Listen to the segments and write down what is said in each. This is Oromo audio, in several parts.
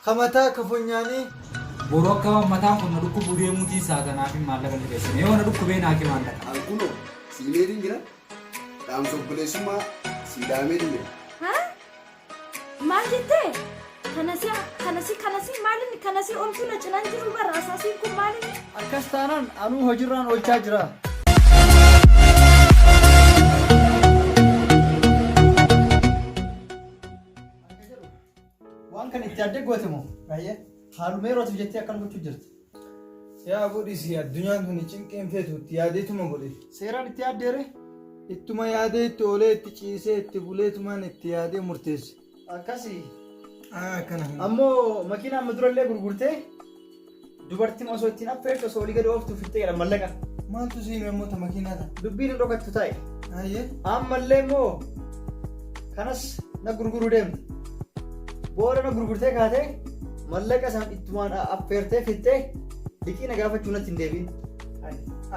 Kamataa kafonyaanii. Boroo akka waan mataan kun na dhukkubuu deemuutiin saatanaaf hin maallaqa ni keessan. Yoo na dhukkubee naa kee maallaqa. Alkuno, siimeetiin jira. Dhaamsa obboleessummaa siidaamee jira. Maal jettee? Kanasi kanasi kanasi maalin kanasi omtu na cinan jiru bara asaasiin kun maalin? Akkas taanaan anuu hojirraan oolchaa jira. Waan kan itti addee goote moo? Baay'ee. Haaluma yerootiif jettee akkan gochuu jirti. Yaa godhisi addunyaan tuni cinqiin feetu itti yaadeetuma godhe. Seeraan itti yaaddeere. Ittuma yaadee itti oolee itti ciisee itti buleetumaan itti yaadee murteesse. Akkasi. Aa akkana kana. Ammoo makiinaa amma durallee gurgurtee dubartiin osoo ittiin affeertu osoo olii gadi ooftu fixxee jedha mallaqa. Maaltu siin immoo ta makiinaa ta'a? Dubbiin hin dhokattu taa'e. Ayyee. Ammallee immoo kanas na gurguruu deemte booda na gurgurtee kaatee mallaqa san ittumaan affeertee fixxee liqii na gaafachuu natti hin deebiin.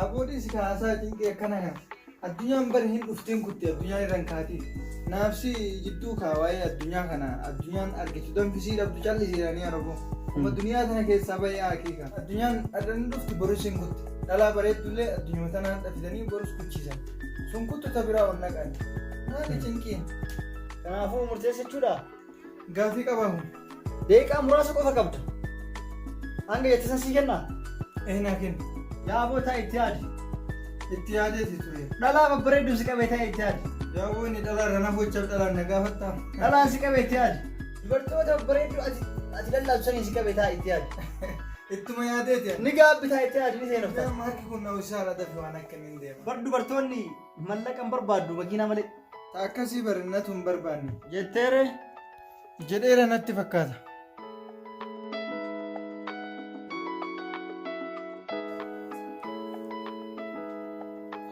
Aboodii si kaasaa cinqee akkana kan addunyaan bari hin dhuftiin kutti addunyaan irraan kaatiin naafsi jidduu kaa waa'ee addunyaa kana addunyaan argitu danfisii dhabdu callisiidhaanii araboo amma duniyaa tana keessaa ba'ee haqiiqa addunyaan adda ni dhufti boris hin kutti dhalaa bareeddullee addunyaa tanaan dhabdanii boris kuchiisan. Sun kuttu ta biraa ol naqan. Maali cinqiin? Kanaafuu murteessa jechuudha. Gaafii qabamu. Deeqaa muraasa qofa qabda. Hanga jette san sii kennaa? Eenaa kenna. Yaa boo taa'e itti yaadi. Itti yaadeeti ture. Dhalaa babbareedduun si qabee taa'e itti yaadi. Yaa boo inni dhalaa irra na bochaaf dhalaan na gaafattaa. Dhalaan si qabee itti yaadi. Dubartoota babbareedduu ati ati lallaasu saniin si qabee taa'e itti yaadi. Ittuma yaadeeti. Ni gaabbi taa'e itti yaadi ni seenofta. Maarki kun na usaara dafi waan akka Bar dubartoonni mallaqa hin barbaaddu makiinaa malee. Ta akkasii barannatu hin barbaanne. Jetteere jedheera natti fakkaata.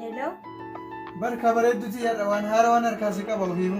Hello? Barka bareedduti yaadha waan haarawaan harkaa si qaba ofiifu.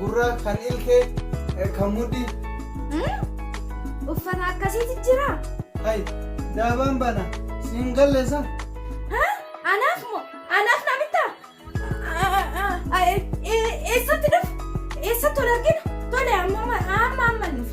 gurraa, kan ilkee, kan mudhii. Uffata akkasiiti jira? Hayi, daabaan bana siin galleessa. Anaaf moo? Anaaf na bitta? Eessatti dhufu? Eessatti ol argina? Tole amma amma amma nuuf.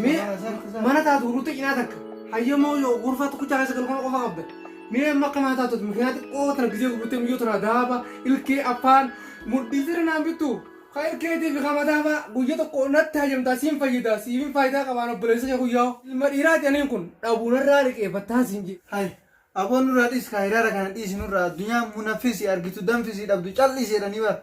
Mee mana taatu gurgurtee cinaa takka. Hayyamoo yoo gurfaa tokkicha keessa galu kana qofa qabda. Mee amma akka mana taatu mikiraa xiqqoo tana gisee gurgurtee miyyoo tana daaba ilkee afaan mudhii sirri naan bittu. Ka ilkeetii fi kama daaba guyya tokko natti hayyamtaa siin fayyida siifin faayidaa qabaan obboleessa kee guyyaa. Ilma dhiiraati aniin kun dhabuunarraa liqeeffattaa siin jedhe. Hay aboon nurraa dhiis kaa hiraara kana dhiisi nurraa addunyaa munafisi argitu danfisi dhabdu cal'isi jedhanii bara.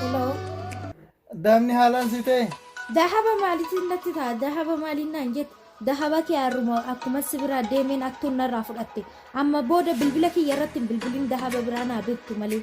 Hello. Daamni haalaan si ta'e. Dahaba maalitiin natti ta'a? Dahaba maaliin naan jette? Dahaba kee harruma akkuma si biraa deemeen aktuun narraa fudhatte. Amma booda bilbila kiyya irratti hin bilbilin dahaba biraa naa bittu malee.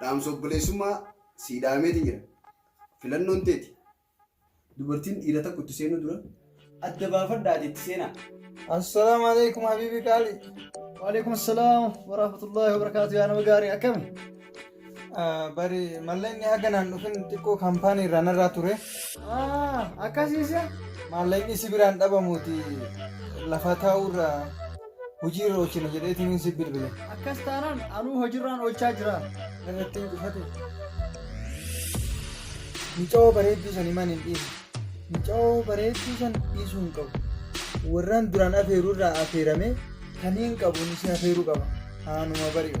Dhaamsa obboleessummaa sii dhaameetiin jira. Filannoon teeti. Dubartiin dhiira tokko itti seenuu dura adda baafadhaati itti seenaa. Assalaamu alaikum habiibi qaali. Waalaikum assalaam warahmatullahi wabarakaatu yaa nama gaarii akkami? Bari mallaqni haga naan dhufin xiqqoo kaampaanii irraa narraa ture. Akkasiisa? Maallaqni si biraan dhabamuuti lafa taa'urraa. Hojii irra oolchina jedheetiin si bilbile. Akkas taanaan anuu hojirraan oolchaa jira. Irratti hin cufate. Muca'oo bareedduu san himaan hin dhiisu. Muca'oo bareedduu san dhiisuu hin qabu. Warraan duraan afeeruu irraa afeeramee kan hin qabu si afeeruu qaba. Haanuma bari'u.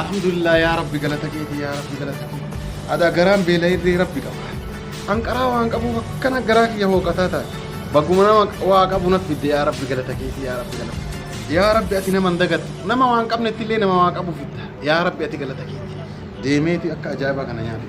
Alhamdulillah yaa Rabbi galata keeti yaa Rabbi galata keeti. Adaa garaan beela'ee Rabbi qaba. Anqaraa waan qabuuf akkana garaa kiyya hooqataa taate. Baguma nama waa qabu naf fidde yaa Rabbi galata keeti yaa Rabbi galata. Yaa Rabbi ati nama hin dagattu. Nama waan qabnetti illee nama waa qabu fidda. Yaa Rabbi ati galata keeti. Deemeeti akka ajaa'ibaa kana nyaate.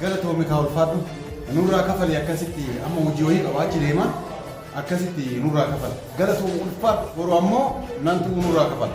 galatoomi kaa ulfaadhu nurraa kafali akkasitti amma hojii wayii qaba achi deema akkasitti nurraa kafala galatoomi ulfaadhu boru ammoo nantu nurraa kafala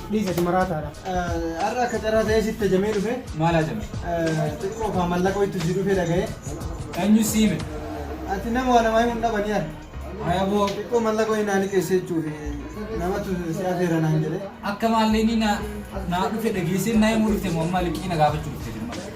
Dhiis ati maraataadha. Har'a akka carraa ta'ee sitti ajamee dhufe. Maal ajame? Xiqqoo kaa mallaqoo itti si dhufe dhaga'ee. Eenyu si hime? Ati nama waa namaa himuun dhabanii ati. Ayaboo. Xiqqoo mallaqoo hin haali keessa jechuuf namatu si afeera naan jedhee. Akka maallee ni na naa dhufe dhageessee naa himuu dhufte moo amma liqii na gaafachuu dhufte jirma.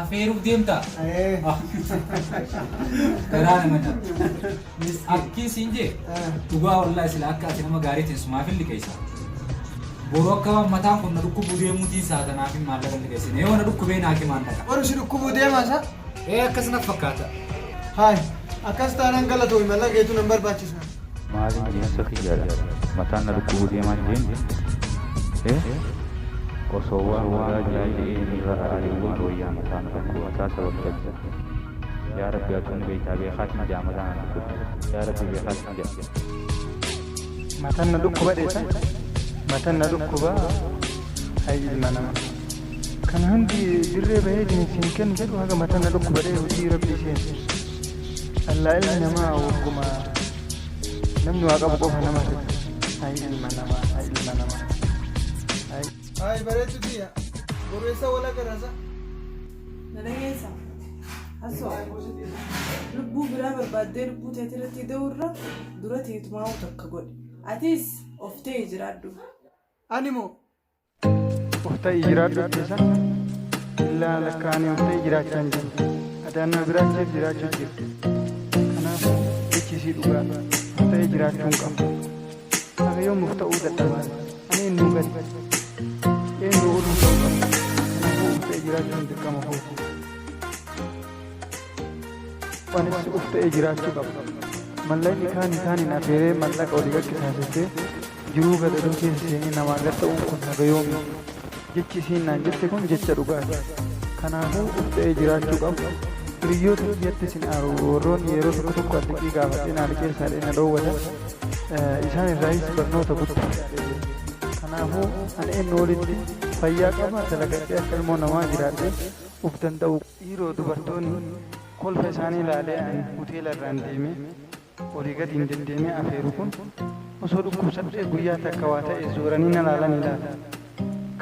Afeeruuf deemtaa? Garaa nama nyaata. Akkiin siin jee dhugaa wallaahi sila akka ati nama gaarii teessumaaf hin liqeessa. Boru akka waan mataan kun na dhukkubuu deemuutiin isaa kanaaf hin maallaqa hin liqeessine. Yoo na dhukkubee naa kimaan dhaqa. Warri si dhukkubuu deemaa isaa? Ee akkas naf fakkaata. Haay, akkas taanaan galatoomi mallaqa keetu nan barbaachisa. Maalin jiinsa kiyyaadha mataan na dhukkubuu deemaan jeen eh osoo waan waraa jiraa je'ee irraa ari'ee maal wayyaa mataa na dhukkuba mataa sabab dhabda yaa rabbi atuu ni beeytaa beekaatiin ja'a mataa na dhukkuba yaa rabbi beekaatiin ja'a matan na dhukkuba dheeta matan na dhukkuba hay ilma nama kan hundi dirree bahee isin kennu jedhu haga matan na dhukkuba dhee hojii rabbii seensu Allaa ilmi namaa wagguma namni waa qabu qofa nama fedha. Hay ilma namaa, hay ilma namaa. Hay. Ay, bareedu biyya. Bobeessa wala garasa. Nalageessa. Hasoo. Lubbuu biraa barbaaddee lubbuu teetii irratti da'uurra dura teetumaa takka godhe. Atis of ta'e jiraadhu. Ani moo Ufta'i jiraadhu keessa illaa lakkaa'anii ufta'i jiraachaa hin jiru. Adaan na biraacheef jiraachuu jiru. Kanaaf jechisii dhugaa ufta'i jiraachuu hin qabu. Haga yoom ufta'uu dadhabaa? Ani hin nuugan. Eenyu oluu ta'uu qabu? Kanaafuu ufta'i jiraachuun dirqama kooti. Anis ufta'ee jiraachuu qaba. Mallaqni kaan isaan hin affeeree mallaqa olii gaggeessaasisee Jiruu gadadoo keessa seenee namaa gad ta'uun kun haga yoomii? Jechi isiin naan jette kun jecha dhugaati. Kanaafuu uf ta'ee jiraachuu qaba. Hiriyyoota kiyyattis hin aaru. Warroonni yeroo tokko tokko an liqii gaafadhee naa liqeessaa jedhanii na dhoowwatan, isaan irraayis barnoota guddaa argadhee jira. Kanaafuu an eennu olitti fayyaa qaba, dalagadhee akka ilmoo namaa jiraadhee uf danda'uu qaba. Dhiiroo dubartoonni kolfa isaanii laalee an huteela irraan deemee. Olii gadi hin deddeemee afeeru kun osoo dhukkubsadhee guyyaa takka waa ta'e zooranii na laalanii laata.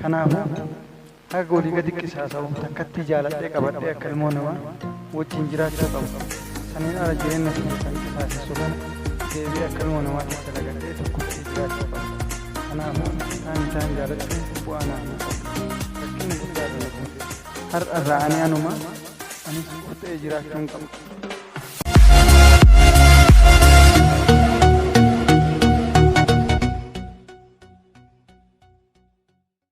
Kanaafuu haga olii gadi qisaasa'u takkattii jaaladhee qabadhee akka ilmoo namaa wajjin jiraachuu qaba. Saniin ala jireenya kiyya kan qisaasessu kana deebi'ee akka ilmoo namaatti dalagadhee tokkotti jiraachuu qaba. Kanaafuu isaan isaan jaalachuun bu'aa naaf hin qabu. Rakkina guddaa dha na buuseera. Har'a irraa ani anuma Ani siif ta'ee jiraachuun qaba.